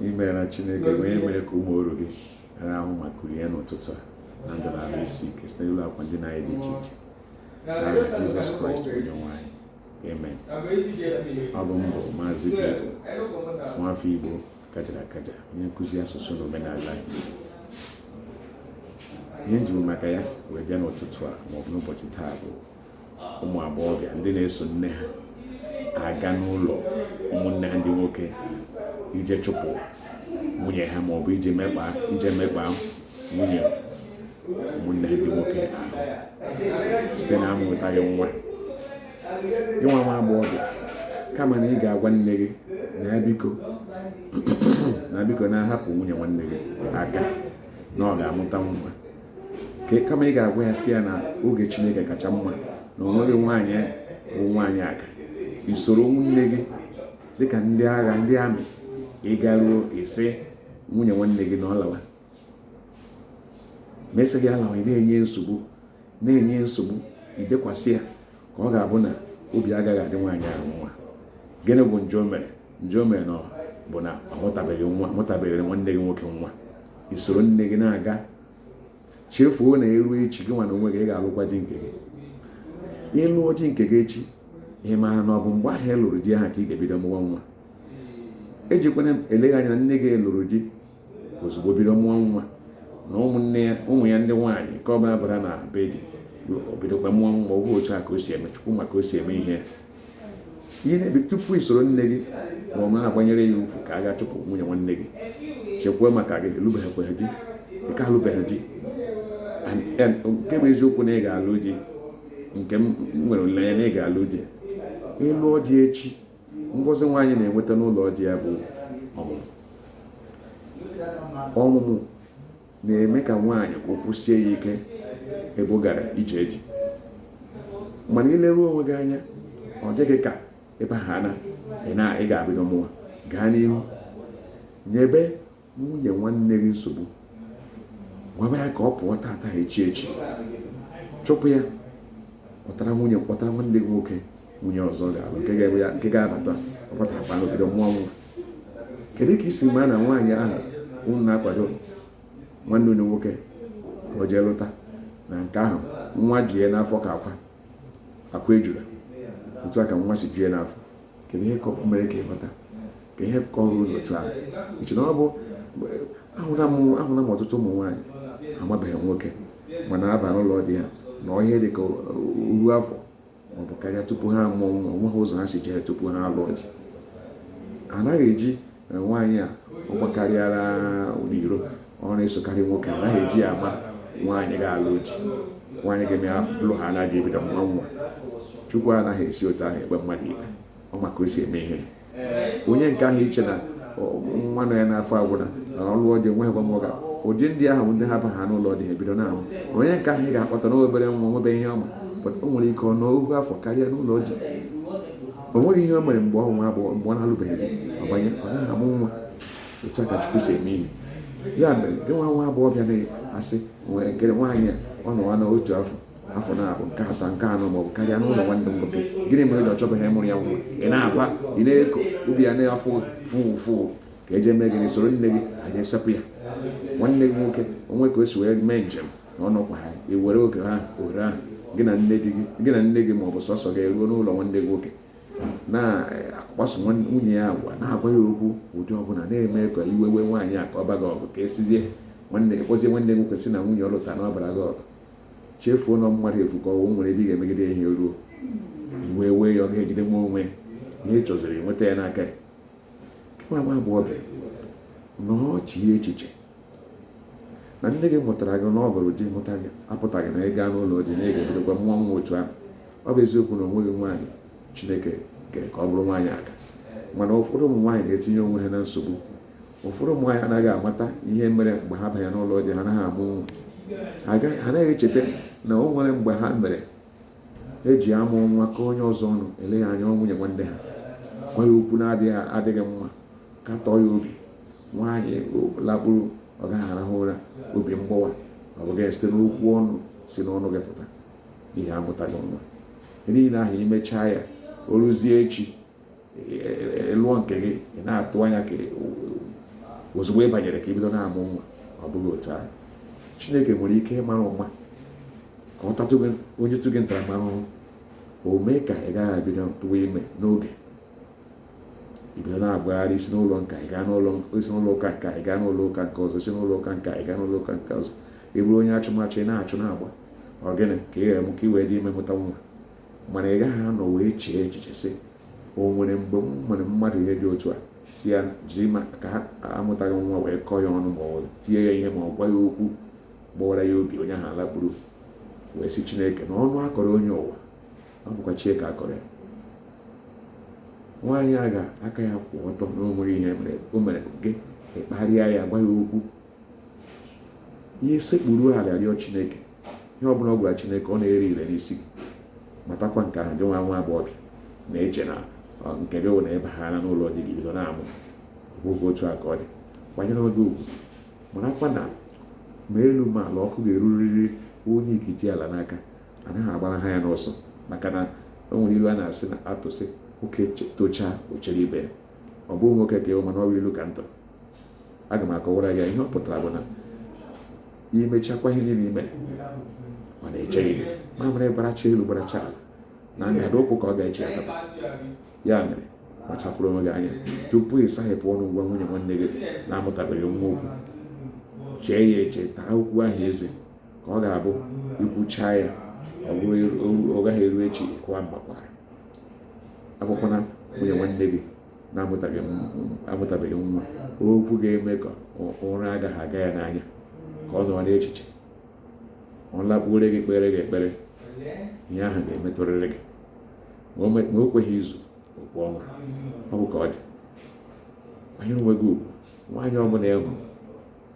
imeela chineke onye mere ka ụmụ oru gị rahụ ma kulie n'ụtụtụ a na ndụ na ahụ isi ike site n'elu akwa ndina anyị dị iche iche n'aha jizọs kraịst onye nwe anyị amen ọ bụ m bụ maazị Igbo nwafọ Igbo kajara akaja onye nkụzi asụsụ na omenala Igbo ihe m ji maka ya wee bịa n'ụtụtụ a maọbụ n'ụbọchị taa bụ ụmụ agbọghọbịa ndị na-eso nne ha aga n'ụlọ ụmụnne ha ndị nwoke ije chụpụ nwunye ha ma ọ bụ ije mekpa ije mekpa nwunye ụmụnne ha ndị nwoke ahụ site na amụtaghị nwa gị nwa nwa agbọghọbịa kama na ị ga-agwa nne gị na biko na biko na-ahapụ nwunye nwanne gị aka na ọ ga-amụta nwa ka kama ị ga-agwa ya sị ya na oge chineke kacha mma na o nweghị nwaanyị bụ nwaanyị aga i soro nwunne gị dịka ndị agha ndị army ị garuo ị sị nwunye nwanne gị na ọ lawa ma ị sịghị ya lawa ị na-enye nsogbu na-enye nsogbu idekwasị ya ka ọ ga-abụ na obi agaghị adị nwaanyị ahụ mma gịnị bụ njọ o mere njọ o mere na bụ na ọ mụtabeghị nwa mụtabeghịrị nwanne gị nwoke nwa i soro nne gị na-aga chefuo na eruo echi gị nwa na onwe gị ị ga-alụkwa di nke gị ị lụọ di nke gị echi ị maara na ọ bụ mgbe ahụ ị lụrụ di ahụ ka ị ga-ebido mụwa nwa ejikwana eleghị anya na nne gị lụrụ di ozugbo bido mụọ nwa na ụmụnne ya ụmụ ya ndị nwaanyị nke ọbụla bara na be di o bidokwa mụọ nwa ọ otu a ka o si eme chukwu ma ka o si eme ihe ihe na-ebi tupu i soro nne gị ma ọ na-agbanyere ya ukwu ka a gaa chụpụ nwunye nwanne gị chekwaa maka gị ị lụbeghịkwa di ị ka alụbeghị di nke bụ eziokwu na ị ga-alụ di nke m nwere olileanya na ị ga-alụ di ị lụọ di echi ngọzi nwaanyị na-enweta n'ụlọ di ya bụ ọmụmụ ọmụmụ na-eme ka nwaanyị ka ụkwụ sie ya ike ebe ọ gara ije di mana i leruo onwe gị anya ọ dị gị ka ebe ahụ na ị ga-ebido mụwa gaa n'ihu nyebe nwunye nwanne gị nsogbu gwaba ya ka ọ pụọ tata echi echi chụpụ ya kpọtara nwunye kpọtara nwanne gị nwoke nwunye ọzọ ga-alụ nke ga-ebe ya nke ga-abata ọ bata kpam o bido mụọ nwa kedu ka i si mara na nwaanyị ahụ unu na-akwado nwanne unu nwoke ka o jee lụta na nke ahụ nwa ju ya n'afọ ka akwa akwa ejula otu a ka nwa si ju ya n'afọ kedu ihe ka mere ka ịghọta ka ihe kọrọ n'otu ahụ iche na ọ bụ ahụla m ọtụtụ ụmụ nwaanyị amabeghị nwoke mana aba n'ụlọ di ha nọọ ihe dị ka oru afọ maọbụ karịa tupu ha amụọ nwa onweghị ụzọ ha si jere tupu ha alụọ di anaghị eji nwaanyị a ọ gbakarịara n'iro ọ na-esokarị nwoke a naghị eji ya ama nwaanyị ga-alụ di nwaanyị ga-eme ya bụrụ ha anaghị ebido mụwa nwa chukwu anaghị esi otu ahụ ekpe mmadụ ikpe ọ ma ka o si eme ihe onye nke ahụ iche na nwa nọ ya n'afọ agwụna na ọ lụọ di enweghị nwa m ọga ụdị ndị ahụ ndị ha baha n'ụlọ di ha ebido na-amụ onye nke ahụ ị ga-akpọta n'obere nwa nwebeghị ihe ọ ma pụta o nwere ike ọ nọ ohu afọ karịa n'ụlọ di o nweghị ihe o mere mgbe ọ nọ n'agbọghọ mgbe ọ na-alụbeghị di ọ banye ọ naghị amụ nwa otu a ka chukwu si eme ihe ya mere gị nwa nwa agbọghọbịa na-asị nwee nkere nwaanyị a ọ nọwana otu afọ afọ naabọ nke atọ nke anọ maọbụ karịa n'ụlọ nwanne m nwoke gịnị mere o ji ọ chọbeghị ịmụrụ ya nwa ị na-aba ị na-eko obi ya na-afụ fụụ fụụ ka eje mee gịnị soro nne gị anyị esepụ ya nwanne gị nwoke o nwee ka o si wee mee njem na ọ nọkwaha ewere oge ha ohere ahụ gị na nne gị na nne gị ma ọ bụ sọsọ gị eruo n'ụlọ nwanne gị nwoke na-akpaso nwunye ya agwa na-agwa ya okwu ụdị ọbụla na-eme ka iwe wee nwaanyị a ka ọ baa gị ọgụ ka esizie nwanne kpọzie nwanne gị nwoke sị na nwunye ọ lụta na ọ bara gị ọgụ chefuo na mmadụ efu ka ọ wụ o nwere ebe ị ga-emegide ihe ruo iwe wee ya ọ gaghị ejidenwu onwe ihe ị chọziri nweta ya n'aka ya kama nwa agbọghọbịa nọọ chie echiche na nne gị mụtara gị na ọ lụrụ di mụta gị apụtaghị na ị gaa n'ụlọ di na ị ga-ebidokwa mụọ nwa otu ahụ ọ bụ eziokwu na onweghị nwaanyị chineke kere ka ọ bụrụ nwaanyị aga mana ụfọdụ ụmụ nwaanyị na-etinye onwe ha na nsogbu ụfọdụ ụmụ nwaanyị anaghị amata ihe mere mgbe ha banye n'ụlọ di ha anaghị amụ nwa ha anaghị echeta na o nwere mgbe ha mere eji amụ nwa kọọ onye ọzọ ọnụ eleghị anya nwunye nwanne ha gwa ya okwu na-adịghị adịghị mma katọọ ya obi nwaanyị lakpuru ọ gaghị arahụ ụra obi mgbawa ọ bụghị site n'okwu ọnụ si n'ọnụ gị pụta n'ihi amụtaghị nwa ihe niile ahụ i mechaa ya o ruzie echi ị lụọ e, e, e, nke gị ị na-atụ anya ka ozugbo ị banyere ka i bido na-amụ nwa ọ bụghị otu ahụ chineke nwere ike ịmara ụma ka ọ tatụ o nyetụ gị ntaramahụhụ o mee ka ị gaghị ebido tụwa ime n'oge i bido na-agbagharị i si n'ụlọ nka ị gaa n'ụlọ i si n'ụlọ ụka nka ị gaa n'ụlọ ụka nke ọzọ i si n'ụlọ ụka nka ị gaa n'ụlọ ụka nke ọzọ ị bụrụ onye achụmachụ ị na-achụ na-agba ọ gịnị ka ị ga-eme ka ị wee dị ime mụta nwa mana ị gaghị anọ wee chee echiche sị o nwere mgbe m mere mmadụ ihe dị otu a sị ya jiri ka ha amụtaghị nwa wee kọọ ya ọnụ ma ọ tie ya ihe ma ọ gwa ya okwu gbawara ya obi onye ahụ alakpuru wee sị chineke na ọnụ a kọrọ onye ụwa ọ bụkwa chi ya ka a kọrọ ya nwaanyị ahụ aka ya kwụ ọtọ na o nweghị ihe o mere gị ị kparịa ya gwa ya okwu ya sekpuru ala rịọ chineke ihe ọ bụla ọ gwara chineke ọ na-ere ire n'isi gị matakwa nke ahụ gị nwa nwa agbọghọbịa na-eche na nke gị wụ na ị baha n'ụlọ di gị bido na-amụ ọ bụghị otu a ka ọ dị kwanyere onwe gị ugwu marakwa na ma elu ma ala ọkụ ga-erurịrị onye ikiti ala n'aka anaghị agbaraha ya n'ọsọ maka na o nwere ilu a na-asị na-atụ sị nwoke tochaa o chere ibe ya ọ bụghị nwoke ka ị wụ mana ọ bụ ilu ka m tụrụ aga m akọwara ya ihe ọ pụtara bụ na i mechakwa ihe niile i me mana echeghị mamịrị gbaracha elu gbaracha ala na ngada ụkwụ ka ọ ga-eche ya tata ya mere kpachapụrụ onwe gị anya tupu ị saghepụ ọnụ gwa nwunye nwanne gị na-amụtabeghị nwa okwu chee ya eche taa okwu ahụ eze ka ọ ga-abụ i kwuchaa ya ọ gaghị eru echi kwawa mmakwara agwakwana nwunye nwanne gị na-amụtabeghị nwa okwu ga-eme ka ụra agaghị aga ya n'anya ka ọ nọrọ n'echiche ọ lakpuore gị kpere gị ekpere ihe ahụ ga-emetụrịrị gị ma o kweghị izu o kwe ọnwa ọ bụ ka ọ dị kwanyere onwe gị ugwu nwaanyị ọbụla ị hụrụ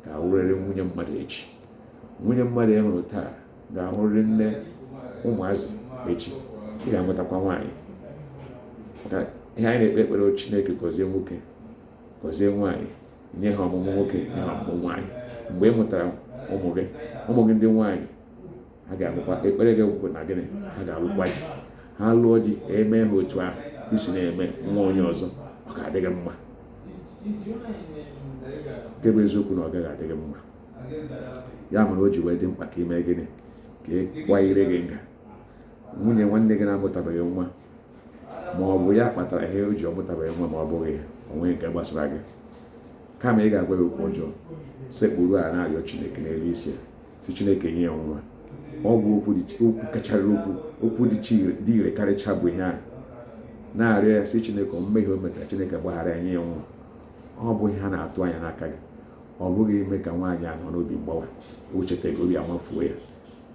ga-awụrịrị nwunye mmadụ echi nwunye mmadụ ị hụrụ taa ga-awụrịrị nne ụmụazị echi ị ga-enwetakwa nwaanyị maka ihe anyị na-ekpe ekpere Chineke gọzie nwoke gọzie nwaanyị nye ha ọmụmụ nwoke nye ha ọmụmụ nwaanyị mgbe ị mụtara ụmụ gị ụmụ gị ndị nwaanyị ha ga-alụkwa ekpere gị wụkwa na gịnị ha ga-alụkwa di ha lụọ di e mee ha otu ahụ i si na-eme nwa onye ọzọ ọ ga-adị gị mma nke bụ eziokwu na ọ gaghị adị gị mma ya mere o ji wee dị mkpa ka i mee gịnị ka ị kwanyere gị nga nwunye nwanne gị na-amụtabeghị nwa ma ọ bụ ya kpatara ihe o ji ọ mụtabeghị nwa ma ọ bụghị ya o nweghị nke gbasara gị kama ị ga-agwa ya okwu ọjọọ sekpuru ala na-arịọ Chineke n'elu isi ya sị chineke nye ya nwa ọ bụ okwu kachara okwu okwu dị ire karịcha bụ ihe ahụ na-arịọ ya sị chineke mmehie o metara chineke gbaghara ya nye ya nwa ọ bụ ihe a na-atụ anya n'aka gị ọ bụghị ime ka nwaanyị a nọ n'obi mgbawa o cheta gị obi amafuo ya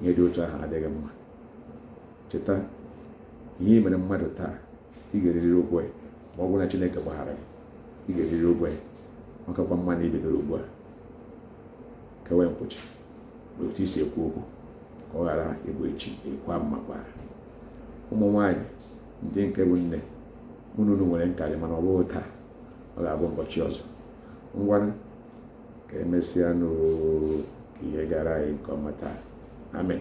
ihe dị otu ahụ adịghị mma cheta ihe i mere mmadụ taa ị ga-eriri ụgwọ ya ma ọ bụrụ na chineke gbaghara gị ị ga-eriri ụgwọ ya ọ kakwa mma na i bidoro ugbu a kewe nkwụcha n'otu i si ekwu okwu ka ọ ghara ịbụ echi ị kwaa mmakwaara ụmụ nwaanyị ndị nke bụ nne mụ na unu nwere nkarị mana ọ bụghị taa ọ ga-abụ ụbọchị ọzọ ngwanụ ka emesịanụ oo ka ihe gaara anyị nke ọma taa amen